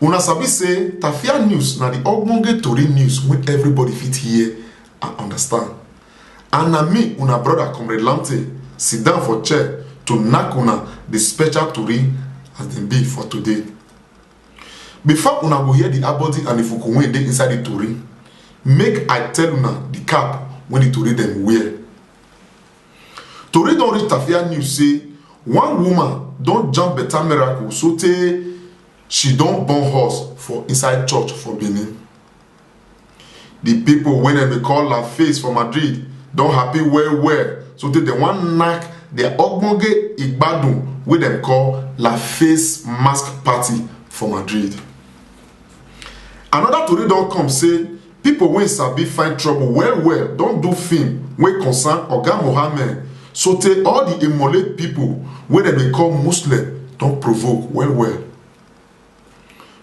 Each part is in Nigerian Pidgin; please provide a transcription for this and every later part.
una sabi say tafia news na di ogbonge tori news wey everybody fit hear and understand and na me una brother comrade lamte sit down for chair to knack una di special tori as dem be for today before una go hear di abodi and di fuku wey dey inside di tori make i tell una di cap wey di tori dem wear Tori don reach Tafia News say one woman don jam better miracle so tey she don born horse for inside church for Benin. The people wey dem dey call La Face for Madrid don happy well well so tey dem wan knack their ogbonge igbadun wey dem call La Face Mask Party for Madrid. Another tori don come say Pipo wey sabi find trouble well well don do film wey concern Oga Mohammed sotey all di Emulate pipo wey dem dey call Muslem don provoke well well.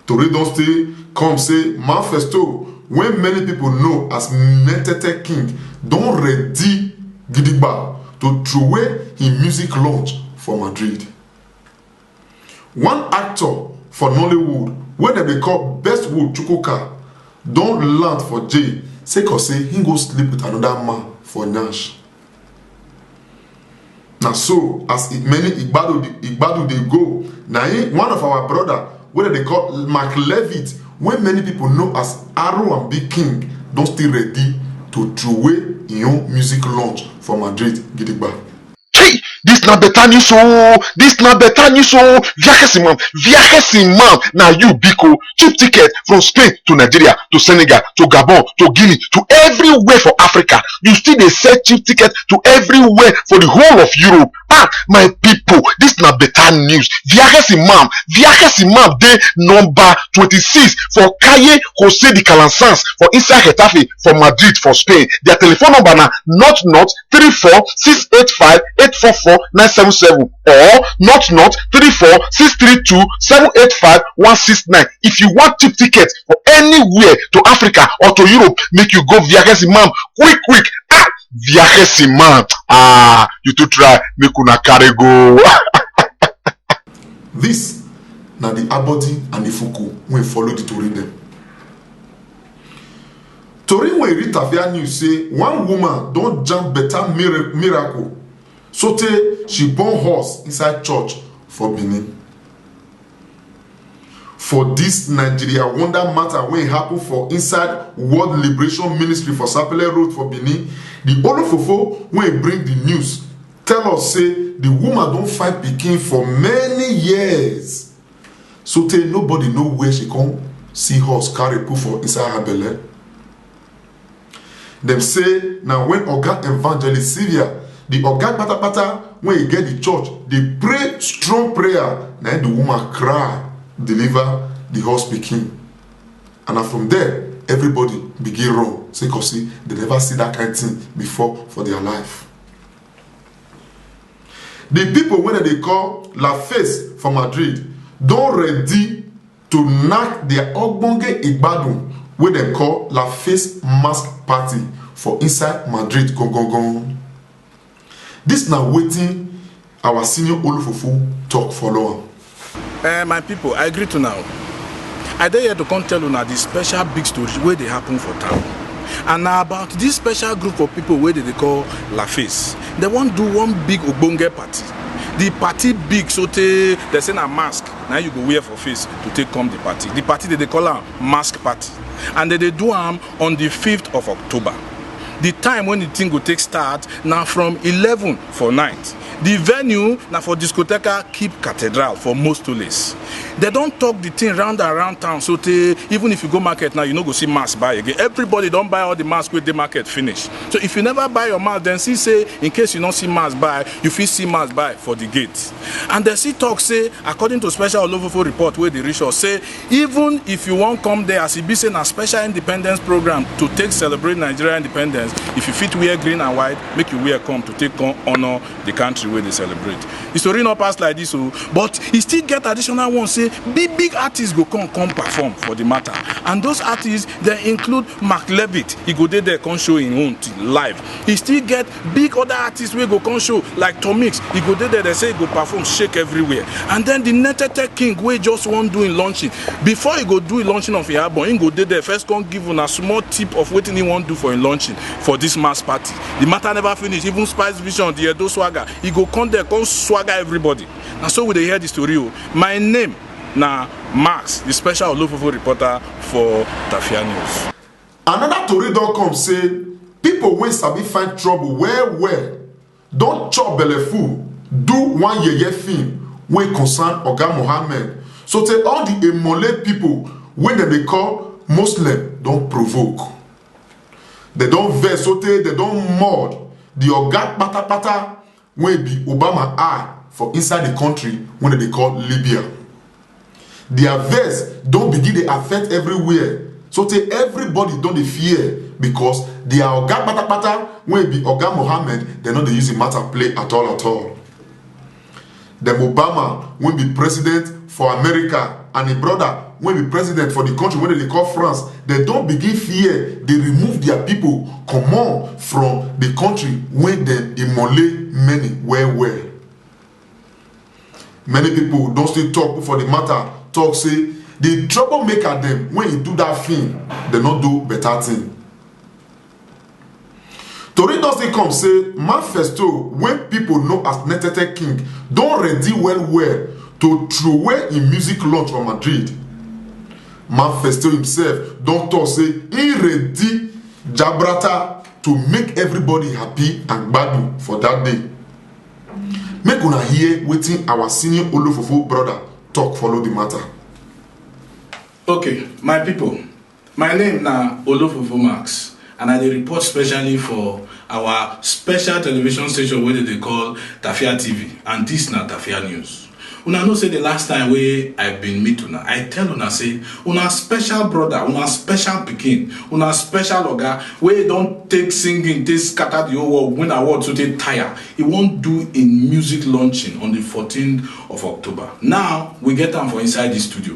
Tori don stay come say Manfesto wey many pipo know as Metete King don ready gidigba to trowey him music launch for Madrid. One actor for Nollywood wey dem dey call Bestwood Chukwuka don land for jail sake of say he go sleep with anoda man for nyash. Na so as many igbado igbado dey go na im one of our broda wey dem dey call Mark Levitt wey many pipo know as Aroambi King don still ready to troway im own music launch for Madrid gidigba. Hey, this na better news oh, this na better news oh. Viajes Imam, Viajes Imam, na you biko. Cheap ticket from Spain to Nigeria to Senegal to Gabon to Guinea to everywhere for Africa. You still dey sell cheap ticket to everywhere for the whole of Europe. Ah, my people, this na better news. Viajes Imam, Viajes Imam dey number twenty-six for Calle Jose de Calansans for inside Getafe for Madrid for Spain. Their telephone number na not not three four six eight five eight four four nine seven seven or not not three four six three two seven eight five one six nine if you wan cheap ticket for anywhere to africa or to europe make you go viajes imam quick quick ah viajes imam ah you too try make una carry go. This na the Abodi and Ifuku wey follow the tori dem. tori wey rita via news say one woman don jam better miracle sotey she born horse inside church for benin for dis nigeria wonder matter wey happen for inside world liberation ministry for sapele road for benin di olofofo wey bring di news tell us say di woman don find pikin for many years sotey nobody know where she come see horse carry put for inside her belle dem say na when oga evangelist sylvia the oga patapata when he get the church dey pray strong prayer na him the woman cry deliver the horse pikin and na from there everybody begin run say cause say they never see that kind thing before for their life di pipo wey dem dey call la face for madrid don ready to knack dia ogbonge igbadun wey dem call la face mask party for inside madrid gongongon dis na wetin our senior olofofo tok follow am Eh, my people, I greet you now. I dey here to come tell una the special big story wey dey happen for town. And na about this special group of people wey dey dey call La Face. They wan do one big ogbonge party. The party big sotey they say na mask na you go wear for face to take come the party. The party dey dey call am mask party and they dey do am on the 5th of October. The time when the thing go take start na from 11 for night. Di venue na for Discoteca Keep Cathedral for Mostoles. Dem don talk di thing round and round town so tey even if you go market now you no go see mask buy again. Everybody don buy all di mask wey dey market finish. So if you never buy your mask dem see say in case you no see mask buy you fit see mask buy for di gate. And dem still talk say according to special Olofofo report wey dey reach us say even if you wan come there as e be say na special independence program to take celebrate nigeria independence if you fit wear green and white make you wear come to take come honour the country wey dey celebrate the story no pass like this o but e still get additional one say big big artists go come come perform for the matter and those artists dem include mark levitt e go dey there come show im own live e still get big other artists wey go come show like tomix e go dey there dem say e go perform shake everywhere and then the netete king wey just wan do im launching before e go do im launching of im album im go dey there first come give una small tip of wetin im wan do for im launching for this mass party the matter never finish even spice vision the edo swagger e go come there come swagger everybody na so we dey hear the story o my name na max the special olofofo reporter for tafia news. Anoda tori don come say pipo wey sabi find trouble well well don chop belleful do one yeye film wey concern Oga Mohammed sotey all di Emole pipo wey dem dey call Moslem don provoke. Dem don vex sotey dem don mud di oga kpatakpata wey be obama eye for inside di kontri wey dem dey call libya dia vex don begin dey affect everywhere sotey everybody don dey fear becos dia oga patapata wey be oga mohammed dem no dey use di matter play at all at all dem obama wey be president for america and im brother wey be president for di country wey dem dey call france dem don begin fear dey remove dia pipo comot from di country wey dem immole many well well many pipo don still tok for di matter tok say di troublemaker dem wey e do dat film dem no do beta tin tori don still come say manifesto wey pipo know as netete king don ready well well to throway im music launch for madrid manifesto himself don tok say e ready jabrata to make everybody happy and gbadu for dat day make una hear wetin our senior olofofo broda tok follow di mata. okay my pipo My name na Olofofo Max and I dey report specially for our special television station wey dem dey call Tafia TV and dis na Tafia News. Una know say the last time wey I bin meet una, I tell una say una special brother, una special pikin, una special oga wey don take singing take scatter the whole world, win award so take tire, e wan do im music launching on the 14th of October. Now, we get am for inside dis studio.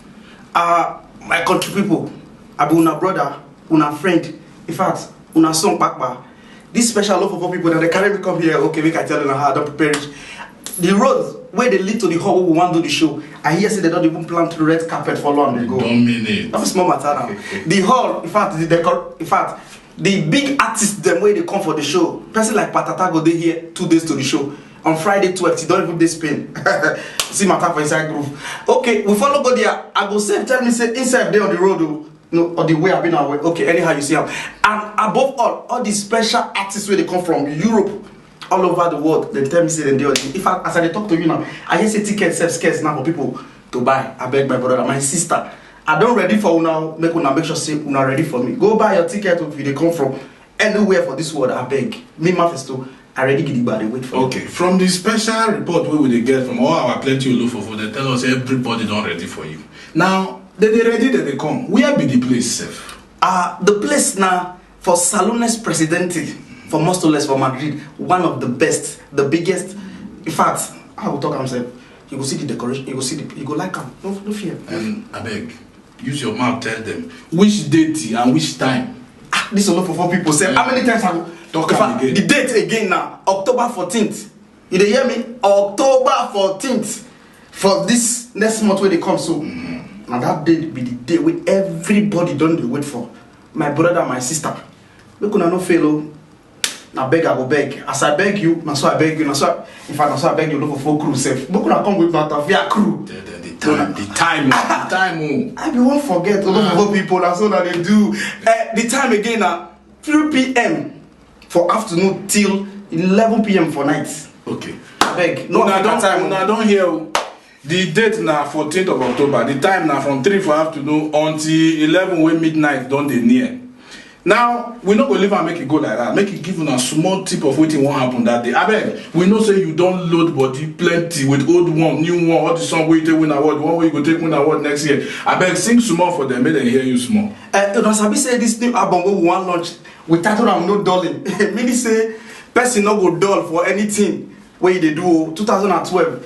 Ah, uh, my country people, I be una brother, una friend, in fact, una son papa. This special love for people that they carry me come here, okay, make I tell una how I don prepare it. The road where they lead to the hall we want to do the show i hear say they don't even plant red carpet for long ago dominate that was small matter now the hall in fact the decor in fact the big artists them where they come for the show person like patata go dey here two days to the show on friday 12 e don even dey spain see matter for inside group okay we follow go there i go save tell me say inside dey on the road o oh. no or the way i be na way okay anyhow you see am and above all all the special artists wey dey come from europe all over the world dem tell me say dem dey on the if i as i dey talk to you now i hear say ticket sef scarce now for people to buy abeg my brother my sister i don ready for una make una make sure say una ready for me go buy your ticket if you dey come from anywhere for this world abeg me mafesto i ready gidigba dey wait for you. okay from the special report wey we dey get from all our plenty olofofo dey tell us everybody don ready for you now dem dey ready dem dey come where be the place sef. Uh, the place now for Salones Presidente, for Mostoles, for Madrid, one of the best, the biggest. In fact, I will talk am sef. You go see the decoration, you go see the, you go like am. No, no fear. Um, abeg Use your mouth tell them which date and which time. Ah, this one not for four people sef. How many times I go? Talk am again. The date again na October fourteenth. You dey hear me? October fourteenth for this next month wey dey come so. Mm -hmm. Na that date be the day wey everybody don dey wait for. My brother, my sister, make una no fail o. Oh. na beg i go beg as i beg you na so i beg you na so i in fact na so i beg you no go full crew sef make una come with my tafia crew The, the, the time, the time, oh, the time. Oh. i bin wan forget ogogogo pipo na so na dey do Eh, the time again na 3pm for afternoon till 11pm for night Okay. abeg no Una waka don, time una o don hear o. Di date na fourteen of October, di time na from three for afternoon until eleven wey midnight don dey near. Now, we no go leave am make e go like dat, make e give una small tip of wetin wan happen dat day. Abeg, we know say you don load body plenty with old one, new one, all di song wey you take win award, one wey you go take win award next year. Abeg, sing small for dem make dem hear you small. Eh, una sabi say dis new album wey we wan launch, we title am No Dulling, meaning say person no go dull for anything wey e dey do o. Two thousand and twelve,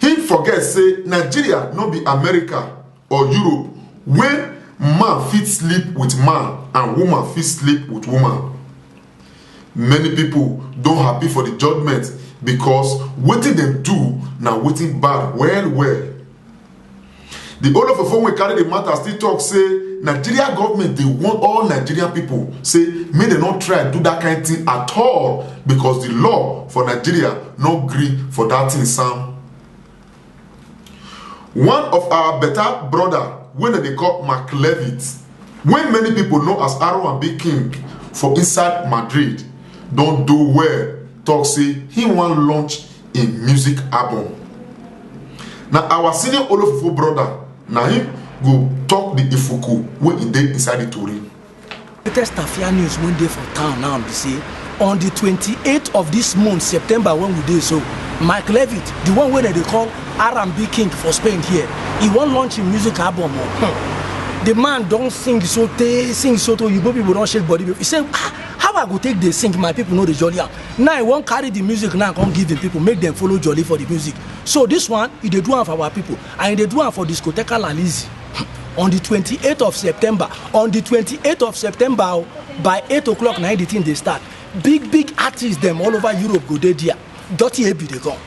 him forget say nigeria no be america or europe wey man fit sleep with man and woman fit sleep with woman many pipo don happy for di judgement becos wetin dem do na wetin bad well well di olofofo wey carry di matter still tok say nigeria government dey warn all nigerian pipo say make dem no try do dat kain tin at all becos di law for nigeria no gree for dat tin sam one of our beta broda wey dem dey call mark levitt wey many pipo know as r1b king for inside madrid don do well tok say im wan launch im music album na our senior olofofo brother na him go talk the ifuku wey e dey inside the tori. latest tafia news wey dey for town now be say on di 28th of dis month september wen we dey so mike levitt di one wey dem dey call r&b king for spain here e wan launch im music album o hmm. di man don sing so tey sing so tey oyibo pipo don shake body e say ah, how i go take dey sing my pipo no dey jolly am now he wan carry the music now come give him people make them follow jolly for the music so this one he dey do am for our people and he dey do am for discoteca lalizi on the twenty eight of september on the twenty eight of september o by eight o'clock na the thing dey start big big artists dem all over europe go dey there dirty ebi dey come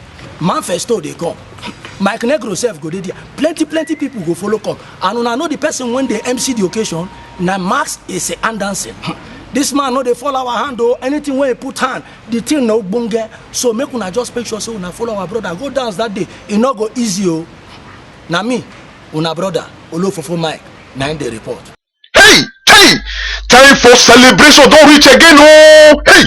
manfesto dey come mike negro sef go dey there plenty plenty people go follow come and una know the person wey dey mc the occasion na max ese andansin this man no dey fall our hand o anything wey he put hand the thing na ogbonge so make una just make sure say una follow our brother go dance that day e no go easy o na me una brother olofofo mike na him dey report. hey hey time for celebration don reach again ooo hey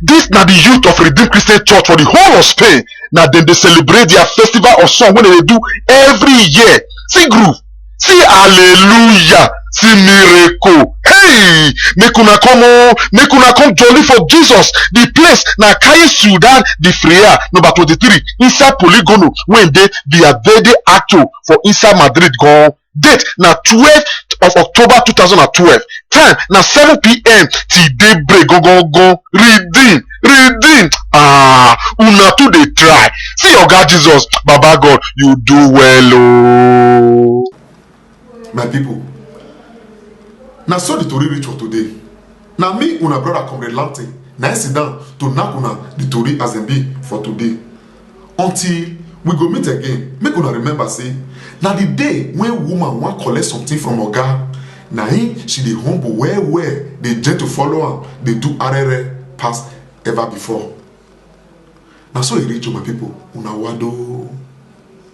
dis na di youth of redeemed christian church for di whole of spain na dem dey celebrate dia festival of song wey dem dey do every year see groove see hallelujah see miracle hey make una come o make una come jolly for jesus the place na kaye sudan the freya number twenty-three inside poligono wey dey viaverde acto for inside madrid gan date na twelve of october two thousand and twelve time na seven pm till daybreak gangan redeem redeem ah una too dey try see oga jesus baba god you do well ooo. my pipo na so di tori reach for today na me una brother comrade lamte na im sit down to knack una di tori as dem be for today until we go meet again make una remember say na the day wey woman wan collect something from oga na him she dey humble well well dey gentle follow am dey do arere pass ever before na so e reach o my people una wado.